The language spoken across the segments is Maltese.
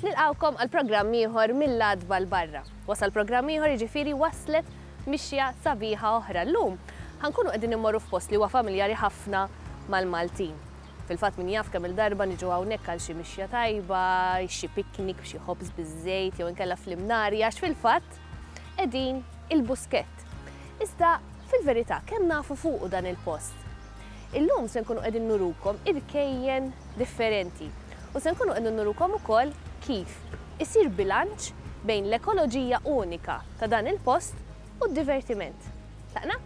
Nilqgħukom għal programm ieħor mill-għadba l barra. Wasal programm ieħor jiġifieri waslet mixja sabiħa oħra. Llum ħankunu qegħdin immorru f'post li huwa familjari ħafna mal-Maltin. Fil-fatt min jaf kemm-il darba niġu hawnhekk għal xi mixja tajba, xi picnic b'xi ħobż biż-żejt jew inkella fl-imnari għax fil-fatt qegħdin il-Buskett. Iżda fil-verità kemm nafu fuqu dan il-post? Illum se nkunu qegħdin nurukom irkejjen differenti u se nkunu qegħdin nurukom ukoll kif isir bilanċ bejn l-ekoloġija unika ta' dan il-post u d-divertiment. Tlaqna?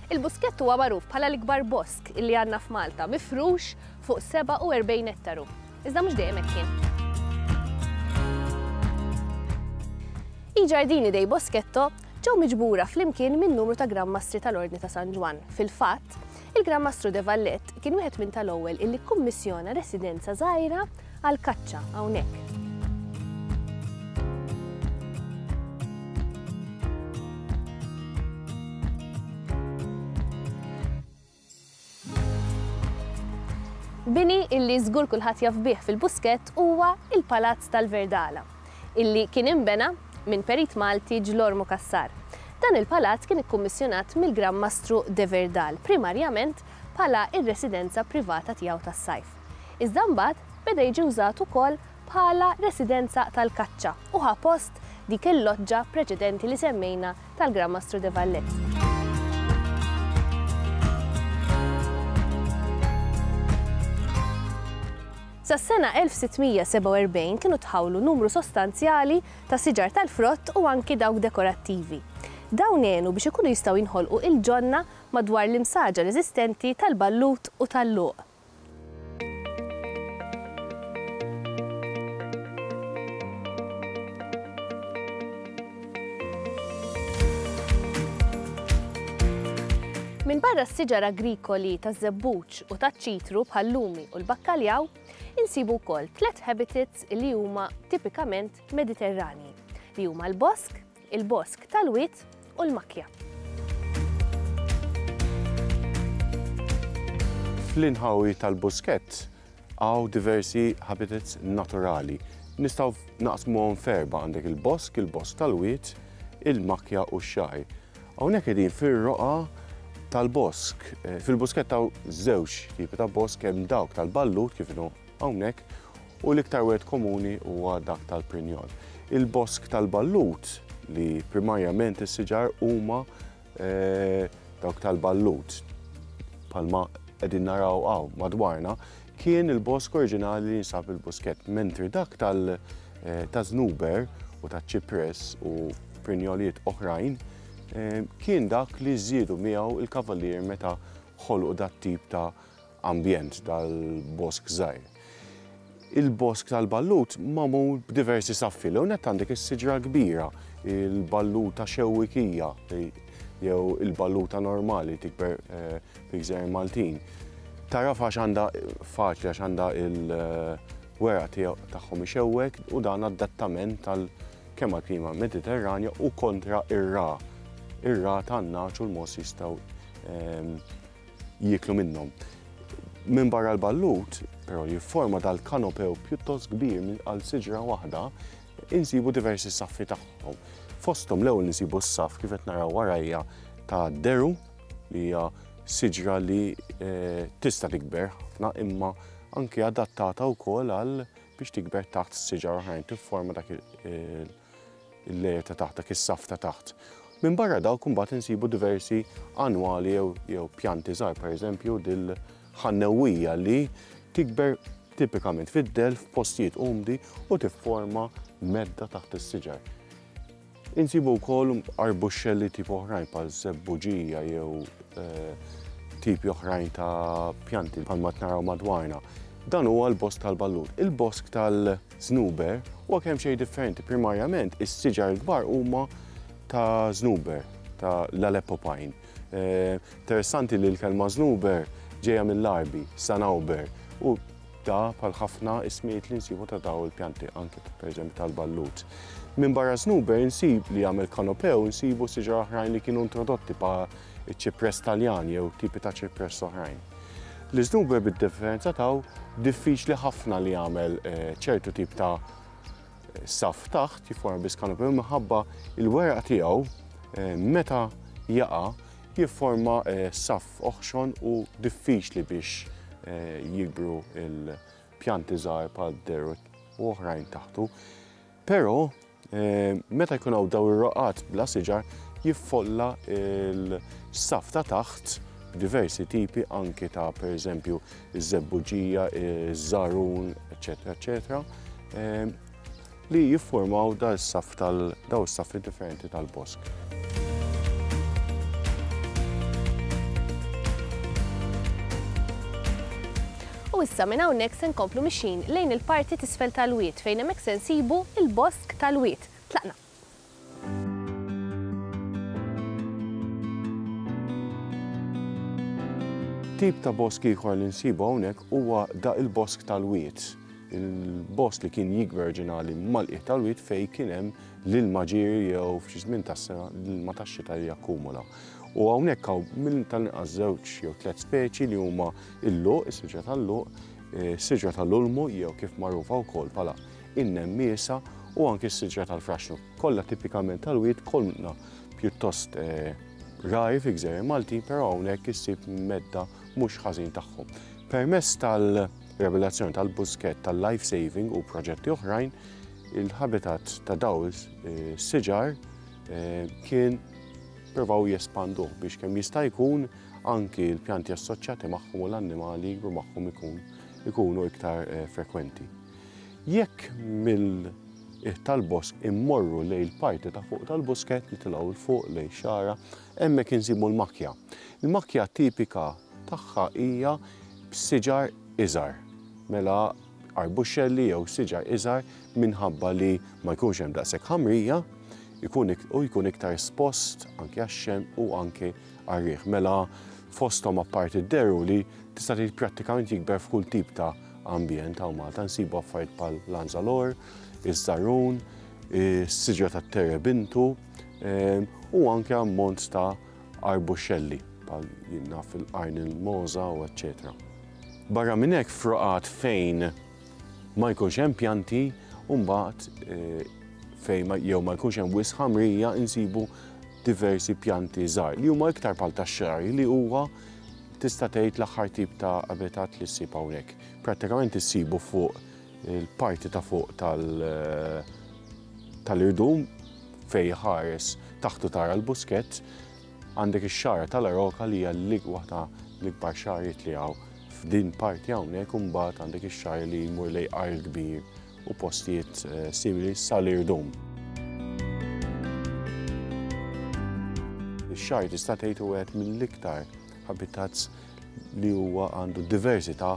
Il-Buskett huwa magħruf bħala l-ikbar bosk illi għandna f'Malta, mifrux fuq 47 ettaru. Iżda mhux dejjem hekk kien. Il-Ġardini dei Boschetto ġew miġbura flimkien minn numru ta' Gran Mastri tal-Ordni ta' San Ġwann. Fil-fatt, il-Gran Mastru De Vallet kien wieħed minn tal-ewwel illi kkummissjona residenza żgħira għall-kaċċa hawnhekk. Bini illi żgur kulħadd jaf bih fil-Buskett huwa il-Palazz tal-Verdala, illi kien inbena minn perit Malti Ġlormu Cassar. Dan il-palazz kien ikkummissjonat mill-Gran Mastru de Verdal primarjament bħala r-residenza privata tiegħu tas-sajf. Iżda mbagħad beda jiġi wżat ukoll bħala residenza tal-kaċċa u ħa post dik il-loġġa preċedenti li semmejna tal-Gran Mastru de Valletta. Sas-sena 1647 kienu tħawlu numru sostanzjali ta' siġar tal-frott u anki dawk dekorattivi. Dawn għenu biex ikunu jistgħu jinħolqu il-ġonna madwar l-imsaġar eżistenti tal-ballut u tal-luq. Minbarra s-siġar agrikoli taż-żebbuġ u taċ-ċitru bħal-lumi u l-bakkaljaw, insibu wkoll tliet habitats li huma tipikament Mediterranji, li huma l-bosk, il-bosk tal-wied u l-makkja. Fl-inħawi tal-buskett hawn diversi habitats naturali. Nistgħu naqsmuhom f'erba' għandek il-bosk, il-bosk tal-wied, il-makkja u x-xgħir. Hawnhekk qegħdin fir-roqgħa tal-bosk. Eh, fil-buskett hawn żewġ tipi ta' bosk hemm dawk tal-ballud kif inhu hawnhekk u l-iktar wieħed komuni huwa dak tal-prinjol. Il-bosk tal-ballut, li primarjament is-siġar huma eh, dawk tal-ballut, palma qegħdin naraw hawn madwarna, kien il-bosk oriġinali li jinsab il-buskett, mentri dak tal- eh, ta' znuber u ta' ċipres u prinjoliet oħrajn eh, kien dak li żiedu miegħu il-kavalier meta ħolqu dat tip ta' ambjent tal-bosk żgħir. Il-bosk tal-ballut magħmul b'diversi saffi. L-ewwel nett għandek is-siġra l-kbira, il-balluta xewwikija jew il-balluta normali tikber fil-Gżejjer Maltin. Tagħraf għax għandha faċli għax għandha il-weraq tiegħu tagħhom ixewwek u dan adattament għal kemm għall-klima Mediterranja u kontra r-ragħa. Ir-ragħa tan-nagħaġ u l-mogħoż jistgħu jieklu minnhom. Minbarra l-ballut, però li jifforma dal-kanopew pjuttost kbir minn għal siġra waħda, insibu diversi saffi tagħhom. Fosthom l-ewwel insibu s-saff kif qed naraw warajja ta' deru li hija siġra li eh, tista' tikber ħafna imma anke adattata wkoll għal biex tikber taħt siġar oħrajn tifforma dak il il-layer ta' taħt, dak is-saff ta' taħt. Minbarra dawk imbagħad insibu diversi annwali jew jew pjanti żgħar, pereżempju dil-ħannewwija li tikber tipikament fid-dell f'postijiet umdi u tifforma medda taħt is-siġar. Insibu wkoll arbuxxelli tip oħrajn bħal żebbuġija jew tipi oħrajn ta' pjanti bħalma qed naraw madwarna. Dan huwa l-bosk tal-ballun. Il-bosk tal-ballun Żnuber huwa kemxejn differenti. Primarjament, is-siġar il-kbar huma ta' żnuber, ta' l-Aleppo pine. Eh, interessanti li l-kelma żnuber ġejja mill-Arbi, sanauber, u da bħal ħafna ismijiet li nsibu ta' daw il-pjanti, anke per eżempju tal-ballut. Minn barra żnuber nsib li għamil kanopew nsibu siġar oħrajn li kienu introdotti pa' iċ-ċipress Taljan jew tipi ta' ċipress oħrajn. L-iżnuber bid-differenza taw diffiċli ħafna li jagħmel eh, ċertu tip ta' saf taħt jifforma biss kanopi minħabba il-weraq tiegħu eh, meta jaqa' jifforma eh, saf oħxon u diffiċli biex jikbru il-pjanti żgħar bħal deru u oħrajn taħtu. Però meta jkun hawn dawn ir-roqgħat bla siġar jiffolla l-saff ta' taħt diversi tipi anki ta' pereżempju ż-żebbuġija, iż-żarun, eċetera, eċetera, li jiffurmaw daw is-saff tal-daw is-saffi differenti tal-bosk. U issa minn hawnhekk se nkomplu mixjin lejn il-parti t'isfel tal-wied fejn hemmhekk se nsibu l-bosk tal-wied. Tlaqna! Tip ta' bosk ieħor li nsibu hawnhekk huwa da il-bosk tal-wied. Il-bosk li kien jikber ġinali mal-qiegħ tal-wied fejn kien hemm L-ilma ġieri jew f'xi żmien tas-sena l-ilma tax-xita jakkumula. U hawnhekk hawn minn tal-inqas żewġ jew tliet speċi li huma l-luq, is-siġra tal-luq, eh, siġra tal-ulmu jew kif magħrufa wkoll bħala in-nemmiesa u anki s-siġra tal-fraxnu. Kollha tipikament tal-wied kollna pjuttost eh, rari fi gżejjer Maltin, però hawnhekk issib medda mhux ħażin tagħhom. Permess tal-revelazzjoni tal-buskett tal-life saving u proġetti oħrajn, Il-habitat ta' dawż siġar kien provaw jespanduh biex kemm jista' jkun anki l-pjanti assoċjati magħhom u l-annimali jikbru magħhom ikun ikunu iktar frekwenti. Jekk mill qiegħ tal-bosk immorru lejn il-parti ta' fuq tal-busket nitilgħu l fuq lejn xara, hemmhekk insibu l-makja. Il-makja tipika tagħha hija b'siġar iżgħar. Mela arbuscelli jew siġar iżgħar minħabba li ma jkunx hemm daqshekk ħamrija u jkun iktar espost anke għax-xemx u anke għar-riħ. Mela fosthom apparti d-deru li tista' tgħid prattikament jikber f'kull tip ta' ambjent hawn Malta nsibu affarijiet bħal l-anzalor, iż-żarrun, is-siġra tat-terebintu u anke ammont ta' arbuxelli, bħal jinnaf fil-qarn il-moża u eċċetera. Barra minn hekk froqat fejn ma jkunx hemm pjanti u mbagħad eh, fejn jew ma jkunx hemm wisq ħamrija insibu diversi pjanti żgħar li huma iktar bħal tax-xar li huwa tista' tgħid l-aħħar tip ta' abitat li ssib hawnhekk. Prattikament issibu fuq Il-parti ta' fuq tal-irdum fej ħares taħtu tara l-buskett għandek ix-xara tal-aroka li hija l waħda l-ikbar xariet li hawn f'din parti hawnhekk u mbagħad għandek ix-xar li jmur lej qar kbir u postijiet eh, simili sal-irdum. Ix-xar tista' tgħid u għed mill-iktar habitats li huwa għandu diversità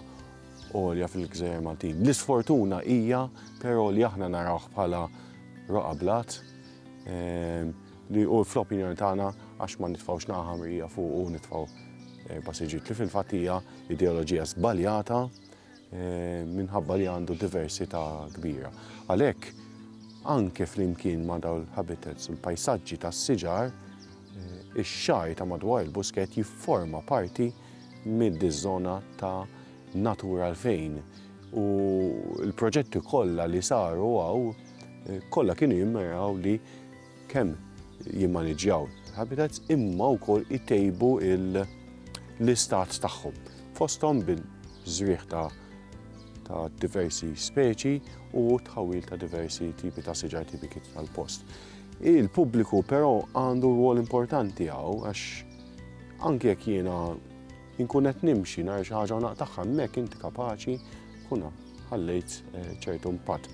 għolja fil-Gżejjer Maltin. L-isfortuna hija però li aħna narawh bħala roqa blat ehm, li u fl-opinjoni tagħna għax ma nitfawx naħa mrija fuq u nitfaw eh, passiġġiet li fil-fatt hija ideoloġija żbaljata eh, minħabba li għandu diversità kbira. Għalhekk anke flimkien ma' dawl habitats u l-pajsaġġi tas-siġar, eh, ix-xaj ta' madwar il-busket jifforma parti mid-żona ta' Natura 2000 u l-proġetti kollha li saru hawn kollha kienu jimmiraw li kemm jimmaniġġjaw habitats imma wkoll itejbu l-istat tagħhom. Fosthom bil-żrieħ ta' ta' diversi speċi u tħawil ta' diversi tipi ta' siġar tipiki tal-post. Il-pubbliku però għandu rwol importanti hawn għax Anke jekk jiena nkun qed nimxi nhar xi ħaġa u naqtagħha hemmhekk inti kapaċi kuna ħallejt eh, ċertu impatt.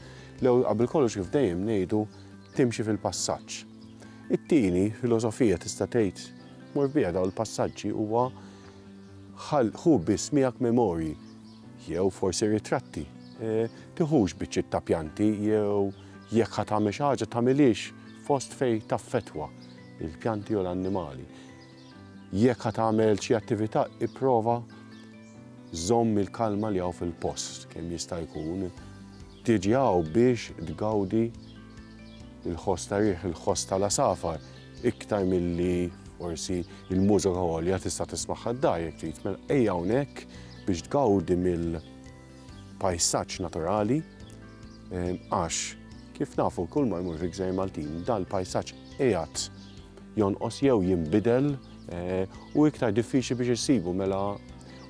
Lew qabel kollox kif dejjem ngħidu timxi fil-passaġġ. It-tieni filosofija tista' tgħid mor biha daw il-passaġġi huwa ħu biss miegħek memorji jew forsi ritratti. Eh, tiħux biċċi ta' pjanti jew jekk ħatamel xi ħaġa tagħmilix fost fej taffetwa. il-pjanti jew l-annimali. Jekk ħa tagħmel xi attività, ipprova żomm il-kalma li hawn fil-post kemm jista' jkun. Tiġi hawn biex tgawdi il-ħoss ta' riħ, il-ħoss tal-għasafar, iktar milli forsi il-mużika għolja tista' tismagħha d-dar jekk trid. Mela ejja hawnhekk biex tgawdi mill- pajsaġġ naturali għax kif nafu kull ma jmur fil-Gżejjer Maltin dal-pajsaġġ qiegħed jonqos jew jinbidel eh, u iktar diffiċli biex issibu mela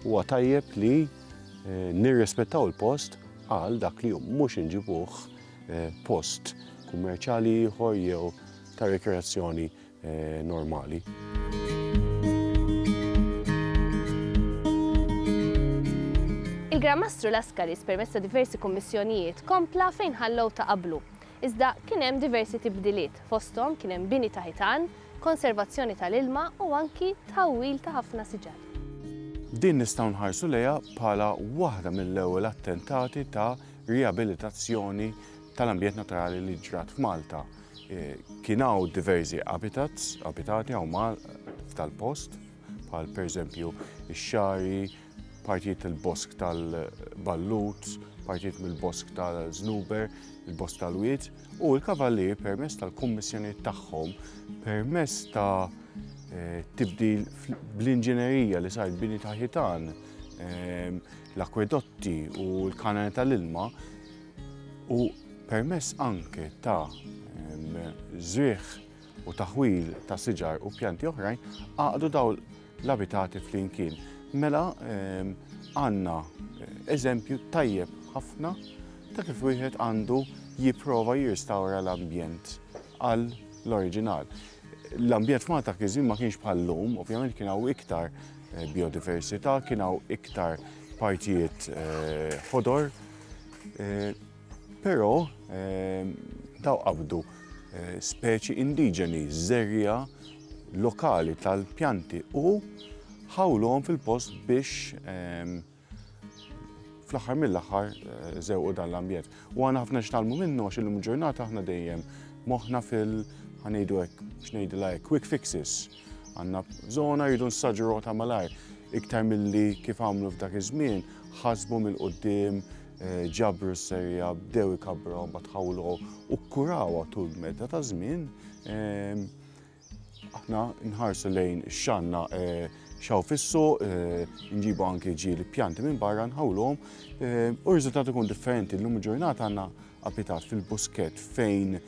huwa tajjeb li eh, nirrispettaw il-post għal dak li mhux inġibuh eh, post kummerċjali ieħor jew ta' rekreazzjoni normali. Il-Gran Mastru Laskaris permezz ta' diversi kummissjonijiet kompla fejn ħallew ta' qablu. Iżda kien hemm diversi tibdiliet, fosthom kien hemm bini ta' ħitan, konservazzjoni tal-ilma u anki tħawwil ta' ħafna siġar. Din nistgħu nħarsu lejha bħala waħda mill-ewwel attentati ta' riabilitazzjoni tal-ambjent naturali li ġrat f'Malta. Kien hawn diversi abitats, abitati hawn mal tal-post, bħal pereżempju ix-xari, partijiet tal-bosk tal-ballut, partijiet mill-bosk tal-żnuber, il-bosk tal-wied, u l-kavallier permess tal-kummissjonijiet tagħhom, permess ta' eh, tibdil bl-inġinerija li sar bini ta' ħitan, eh, l-akwedotti u l-kanali tal-ilma, u permezz anke ta' żrigħ u taħwil ta' siġar u pjanti oħrajn għaqdu daw l-abitati flimkien. Mela ehm, għanna eh, eżempju tajjeb ħafna ta' kif wieħed għandu jipprova jirstawra l-ambjent għal l-oriġinal. L-ambjent f'Malta kizim ma kienx bħal-lum, ovvjament kien hawn iktar eh, biodiversità, kien hawn iktar partijiet eh, ħodor, Però daw qabdu speċi indiġeni, żerja lokali tal-pjanti u ħawluhom fil-post biex fl-aħħar mill-aħħar eh, zewqu dan l-ambjent. U għana ħafna xtalmu minnu għax il-lum ġurnata ħna dejjem moħna fil- ħanejdu hekk xnejdilha hekk quick fixes. Għandna bżona rridu nsaġruha ta' malajr iktar milli kif għamlu f'dak iż-żmien, ħasbu mill-quddiem, eh, ġabru s-serja, bdew ikabru ma tħawlu u kkurawha tul medda ta' żmien. Ehm, aħna nħarsu lejn xanna eh, xaw fissu, eh, nġibu anki ġili pjanti minn barra nħawlhom u r-riżultat ikun differenti. L-lum ġurnata għandna Abitat fil-buskett fejn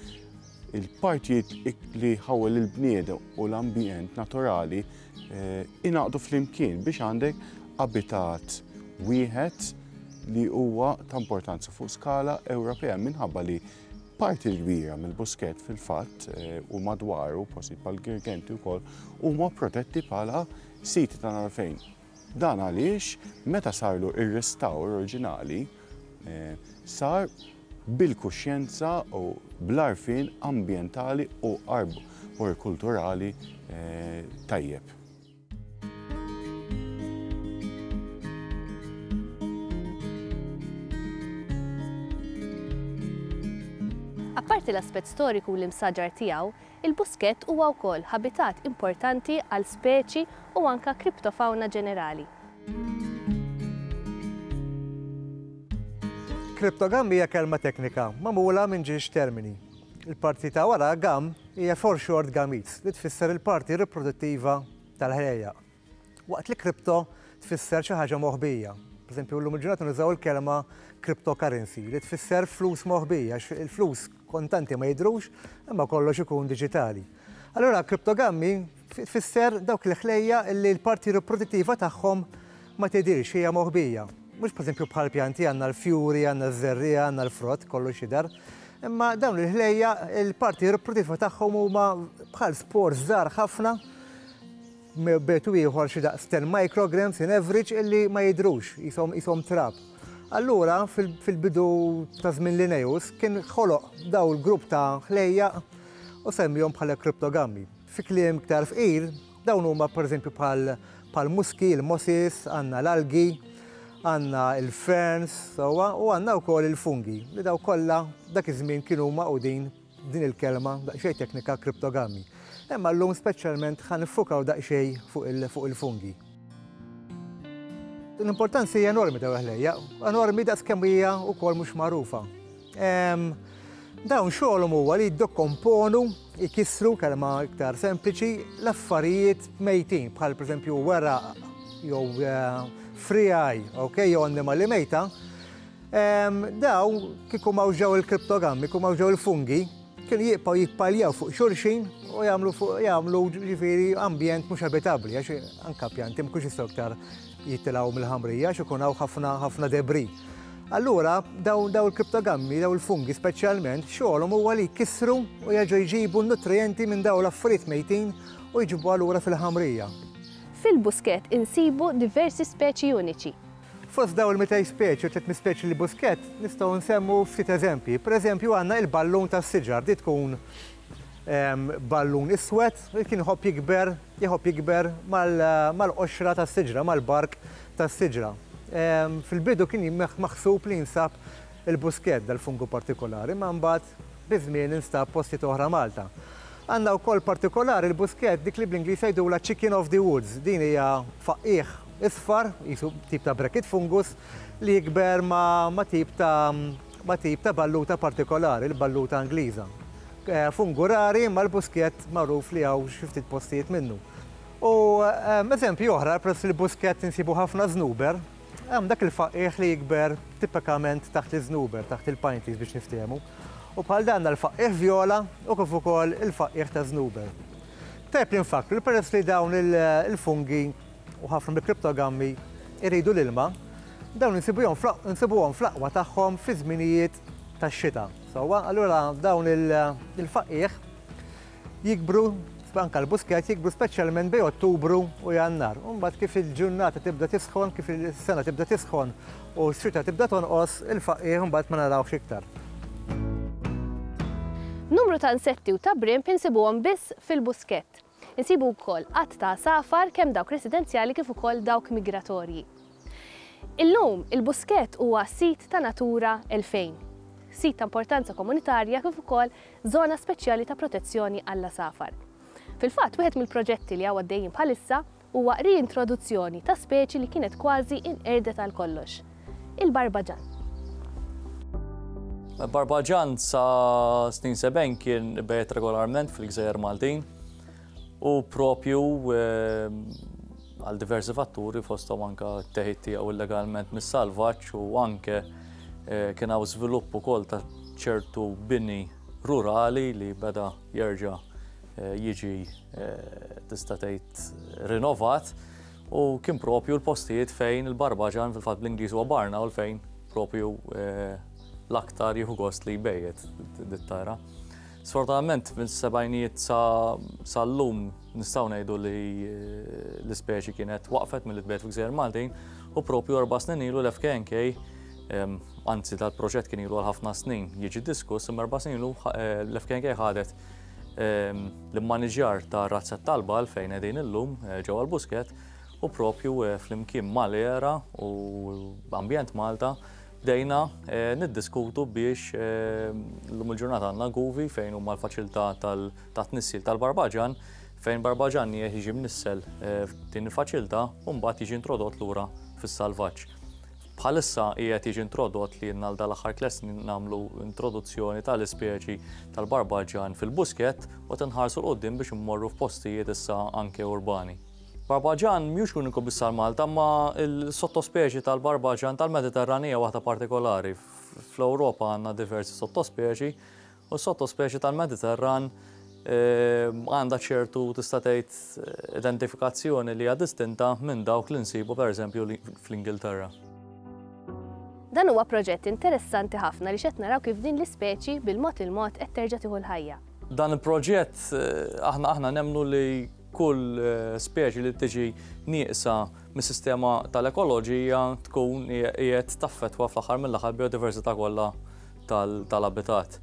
il-partijiet li jħawwel il-bniedem u l-ambjent naturali jingħaqdu flimkien biex għandek abitat wieħed li huwa ta' importanza fuq skala Ewropea minħabba li parti l-kbira mill-buskett fil-fatt u madwaru postijiet bħall-Girgenti wkoll huma protetti bħala siti ta' nagħlfejn. Dan għaliex meta sarlu r-restawr oriġinali sar bil-kuxjenza u bl-għarfien ambjentali u arborikulturali tajjeb. Apparti l-aspett storiku u l-imsaġar tiegħu, Il-buskett huwa wkoll ħabitat importanti għal speċi u anke kriptofawna ġenerali. Kriptogamm hija kelma teknika magħmula minn ġiex termini. Il-parti ta' wara gamm hija foreshort gametes li tfisser il-parti riproduttiva tal-ħlejjaq. Waqt li kripto tfisser xi ħaġa moħbija. Pereżempju, llum il-ġurnata nużaw il-kelma cryptocurrency li tfisser flus moħbija għax il-flus kontanti ma jidhrux imma kollox ikun diġitali. Allura kriptogammi tfisser dawk il-ħlejja li l-parti riprodittiva tagħhom ma tidhirx hija moħbija. Mhux pereżempju bħal pjanti għandna l-fjuri, għandna ż-żerriegħa, għandna l-frott, kollox jidher. Imma dawn il-ħlejja il-parti riprodittiva tagħhom huma bħal spors żgħar ħafna B'metodu ieħor xi daqs ten micrograms in average illi ma jidhrux, qishom qishom trab. Allura fil-bidu ta' żmien Linnaeus kien ħoloq dawn il-grupp ta' ħlejjaq u semmiehom bħala kriptogammi. Fi kliem iktar fqir, dawn huma pereżempju bħal muski, il-mosses, għandna l-algi, għandna l-ferns sewwa u għandna wkoll il-fungi li dawn kollha dak iż-żmien kienu magħqudin din il-kelma daqsxejn teknika kriptogami. Imma llum speċjalment ħa niffukaw daqsxejn fuq il-fungi. L-importanza hija enormi ta' l-ħlejja, enormi daqs kemm hija wkoll mhux magħrufa. Dawn xogħolhom huwa li jiddekomponu, ikissru, kelma iktar sempliċi, l-affarijiet mejtin bħal pereżempju weraq jew friegħi, okay, jew annimali mejta, Daw kieku ma użaw il-kriptogammi, kieku ma użaw il-fungi, kienu jibqgħu jippaljaw fuq xulxin u jagħmlu fuq jagħmlu ġifieri ambjent mhux abitabbli għax anka pjanti mkunx jistgħu iktar jitilgħu mill-ħamrija għax ikun hawn ħafna ħafna debri. Allura daw daw il-kriptogammi, daw il-fungi speċjalment, xogħolhom huwa li jkissru u jaġu jġibu nutrijenti minn daw l-affarijiet mejtin u jġibuha lura fil-ħamrija. Fil-buskett insibu diversi speċi uniċi. Fost dawn il-200 speċi u 300 speċi li Busquet, nistgħu nsemmu ftit eżempji. Pereżempju għandna il-ballun tas-siġar, di tkun ballun iswed li kien iħobb jikber, iħobb jikber mal-qoxra tas-siġra, mal-bark tas-siġra. Fil-bidu kien maħsub li jinsab Il-buskett, dal-fungu partikolari, ma mbagħad biż-żmien instab postijiet oħra Malta. Għandna wkoll partikolari l-buskett dik li bl-Ingliż jgħidulha chicken of the woods. Din hija faqqigħ isfar, qisu tip ta' bracket fungus, li jikber ma' tip ta' ma' tip ta' balluta partikolari, l-balluta Ingliża. Fungu rari imma l-buskett magħruf li hawn xi ftit postijiet minnu. U eżempji oħra, peress li l-buskett insibu ħafna żnuber, Hemm dak il-faqqiegħ li jikber tipikament taħt l-iżnuber, taħt il-pine trees biex niftehmu. U bħal dan għandna l-faqqiegħ vjola u kif ukoll il-faqqiegħ ta' żnuber. Tajjeb li nfakkru li peress li dawn il-fungi u ħafna mill-kriptogammi jridu l-ilma, dawn insibuhom fl-aqwa tagħhom fi żminijiet tax-xita. Sewwa, allura dawn il-faqqiegħ jikbru, anke l-buskett jikbru speċjalment bejn Ottubru u Jannar. U mbagħad kif il-ġurnata tibda tisħon, kif is-sena tibda tisħon u x-xita tibda tonqos, il-faqqiegħ imbagħad ma narawhx iktar. Numru ta' insetti u ta' brimb insibuhom biss fil-buskett. Insibu wkoll għadd ta' għasafar kemm dawk residenzjali kif ukoll dawk migratorji. Illum, il-Buskett huwa Sit ta' Natura 2000, Sit ta' Importanza Komunitarja kif ukoll Żona Speċjali ta' Protezzjoni għall-Għasafar. Fil-fatt, wieħed mill-proġetti li hawn għaddejjin bħalissa huwa riintroduzzjoni ta' speċi li kienet kważi inqerdet għal kollox, il-barbaġann. Il-barbaġann sa snin sebgħin kien ibegħed regolarment fil-gżejjer Maltin. U propju għal diversi fatturi fosthom anke t-teħid tiegħu illegalment mis-salvaġġ u anke kien hawn żvilupp ukoll ta' ċertu bini rurali li beda jerġa' jiġi tista' tgħid rinovat u kien propju l-postijiet fejn il-Barbaġan fil-fatt bl-Ingliż huwa Barnawl fejn propju l-aktar jieħu gost li jbejjet dit-tara. Sfortunatament mis-sebgħinijiet sa llum nistgħu ngħidu li l-ispeċi kienet waqfet milli tbegħed f'Gżejjer Maltin u propju erba' snin ilu l-FKNK anzi tal-proġett kien ilu għal ħafna snin jiġi diskuss imma erba' snin ilu eh, l-FKNK ħadet l-immaniġjar ta' razzet talba fejn qegħdin illum eh, ġewwa l-Busket u propju eh, flimkien mal-era u ambjent Malta Bdejna niddiskutu biex llum il-ġurnata għandna Guvi fejn huma l-faċilità tat-tnissil tal-barbaġan fejn barbaġan nieħ jiġi mnissel f'din il-faċilità u mbagħad jiġi introdott lura fis-salvaġġ. Bħalissa qiegħed jiġi introdott li għal dan l-aħħar tliet snin nagħmlu introduzzjoni tal-ispeċi tal-barbaġan fil-buskett u qed inħarsu 'l quddiem biex immorru f'postijiet issa anke urbani. Barbaġan mhux l-uniku biss għal Malta, imma l-sottospeċi tal-barbaġan tal-Mediterran hija waħda partikolari. Fl-Ewropa għandna diversi sottospeċi u s-sottospeċi tal-Mediterran ehm, għandha ċertu tista' tgħid eh, identifikazzjoni li hija distinta minn dawk li nsibu pereżempju fl-Ingilterra. Dan huwa proġett interessanti ħafna li xed naraw kif din l-ispeċi bil-mod il-mod qed terġa' tieħu l-ħajja. Dan il-proġett eh, aħna aħna nemnu li Kull speċi li tiġi nieqsa mis-sistema tal-ekoloġija tkun qiegħed taffettwa fl-aħħar mill-aħħar biodiversità kollha tal-abitat.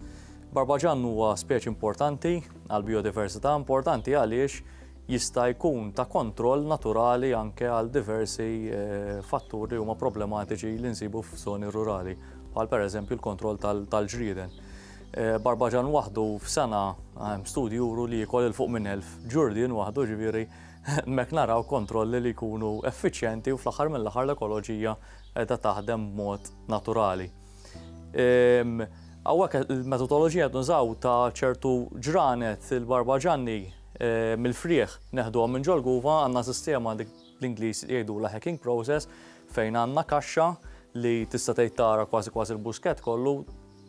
Barbaġann huwa speċi importanti għal biodiversità importanti għaliex jista' jkun ta' kontroll naturali anke għal diversi eh, fatturi huma problematiċi li nsibu f'żoni rurali, bħal pereżempju l-kontroll tal-ġrieden. Eh, Barbaġan waħdu f'sena eh, studji juru li jikol il-fuq minn elf. Ġurdin waħdu ġiviri, mek naraw kontrolli li jkunu effiċjenti u fl-axar mill-axar l-ekoloġija edha taħdem mod naturali. Għawek il-metodologija dunżaw ta' ċertu ġranet il-barbaġanni eh, mill-frieħ neħdu minn ġolguva għanna sistema l-Inglis jgħidu la hacking process fejn għanna kaxxa li tista' tgħid tara kważi kważi l-busket kollu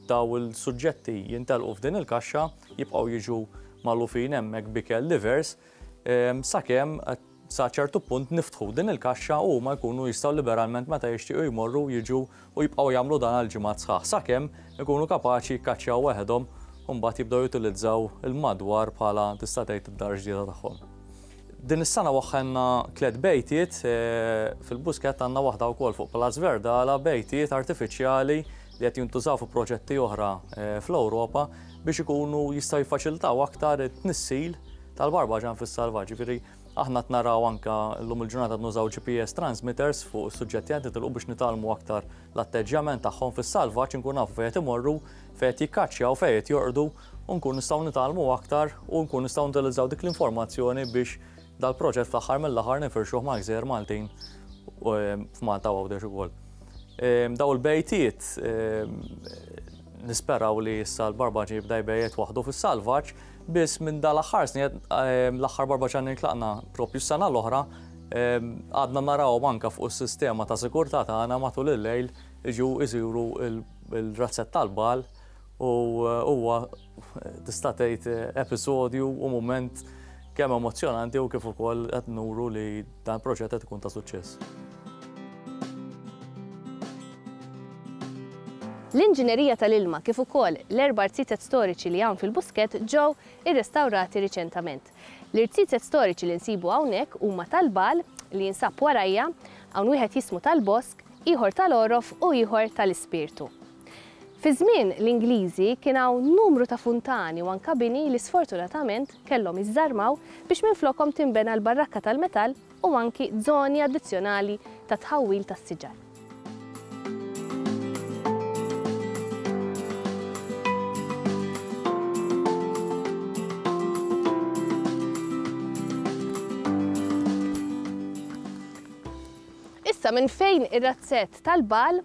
Dawn il-suġġetti jintelqu f'din il-kaxxa, jibqgħu jiġu magħlufin hemmhekk b'ikel divers sakemm sa ċertu punt niftħu din il-kaxxa u huma jkunu jistgħu liberalment meta jixtiequ jmorru jiġu u jibqgħu jagħmlu dan għal ġimgħat sħaħ sakemm ikunu kapaċi jikkaċċjaw weħedhom u mbagħad jibdew jutilizzaw il-madwar bħala tista' tgħid id-dar ġdida tagħhom. Din is-sena waħħelna tliet bejtiet, fil-Buskett għandna waħda wkoll fuq Palazz Verdala, bejtiet artifiċjali li qed jintużaw fi proġetti oħra fl-Ewropa biex ikunu jistgħu jiffaċilitaw aktar it-tnissil tal-barbaġan fis-salvaġġ. Jiġifieri aħna qed naraw anke llum il-ġurnata qed nużaw GPS transmitters fuq is-suġġetti qed nitilqu biex nitgħallmu aktar l-atteġġjament tagħhom fis-salvaġġ inkunu nafu fejn qed imorru, fejn qed jikkaċċjaw, fejn qed jorqdu. u nkunu nistgħu nitgħallmu aktar u nkunu nistgħu nutilizzaw dik l-informazzjoni biex dal-proġett fl-aħħar mill-aħħar ninfirxuh mal-gżejjer Maltin f'Malta u Għawdex ukoll. Daw il-bejtiet nisperaw li issa l-barbaġi jibda jbejjet waħdu fis-salvaġġ biss minn dal-aħħar snin l-aħħar barbaġi għandna nitlaqna propju s-sena l-oħra għadna narawhom anke fuq is-sistema ta' sigurtà tagħna matul il-lejl jiġu jsiru l-razzett tal-bal u huwa tista' tgħid episodju u mument kemm emozzjonanti u kif ukoll qed nuru li dan il-proġett qed ikun ta' suċċess. L-inġinerija tal-ilma kif ukoll l-erba' rziezet storiċi li hawn fil-Buskett ġew irrestawrati riċentament. L-irziezet storiċi li nsibu hawnhekk huma tal-Bal, li jinsab warajja, hawn wieħed jismu tal-Bosk, ieħor tal-Għorof u ieħor tal-Ispirtu. Fi żmien l-Ingliżi kien hawn numru ta' funtani u anka bini li sfortunatament kellhom jiżżarmaw biex minflokhom tinbena l-barrakka tal-metall u anki żoni addizzjonali ta' tħawwil tas-siġar. Issa minn fejn ir-razzett tal-bhal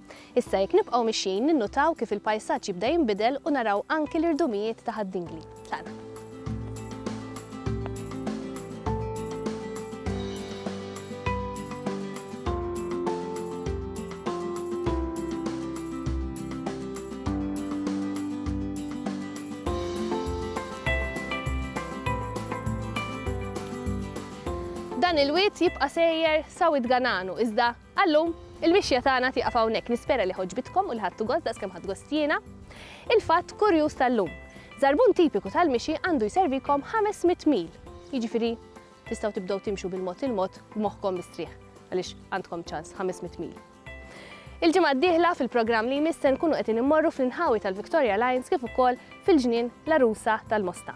Issa jekk nibqgħu mixjin ninnutaw kif il-pajsaġġ jibda jinbidel u naraw anki l-irdumijiet ta' Ħad-Dingli. Tlaqna. Dan il-wied jibqa' sejjer sa Wied Gananu iżda Għal-lum, il-mixja tagħna tieqaf hawnhekk, nispera li għoġbitkom u li ħadtu gost daqs kemm ħadt gost jiena. Il-fatt kurjuż tal-lum, żarbun tipiku tal-mixi għandu jservikom 500 mil, jiġifieri tistgħu tibdew timxu bil-mod il-mod b'moħħkom mistrieħ għaliex għandkom ċans 500 mil. Il-ġimgħa d-dieħla fil-programm li jmiss se nkunu qed immorru fl-inħawi tal-Victoria Lines kif ukoll fil-ġnien l-Arusa tal-Mosta.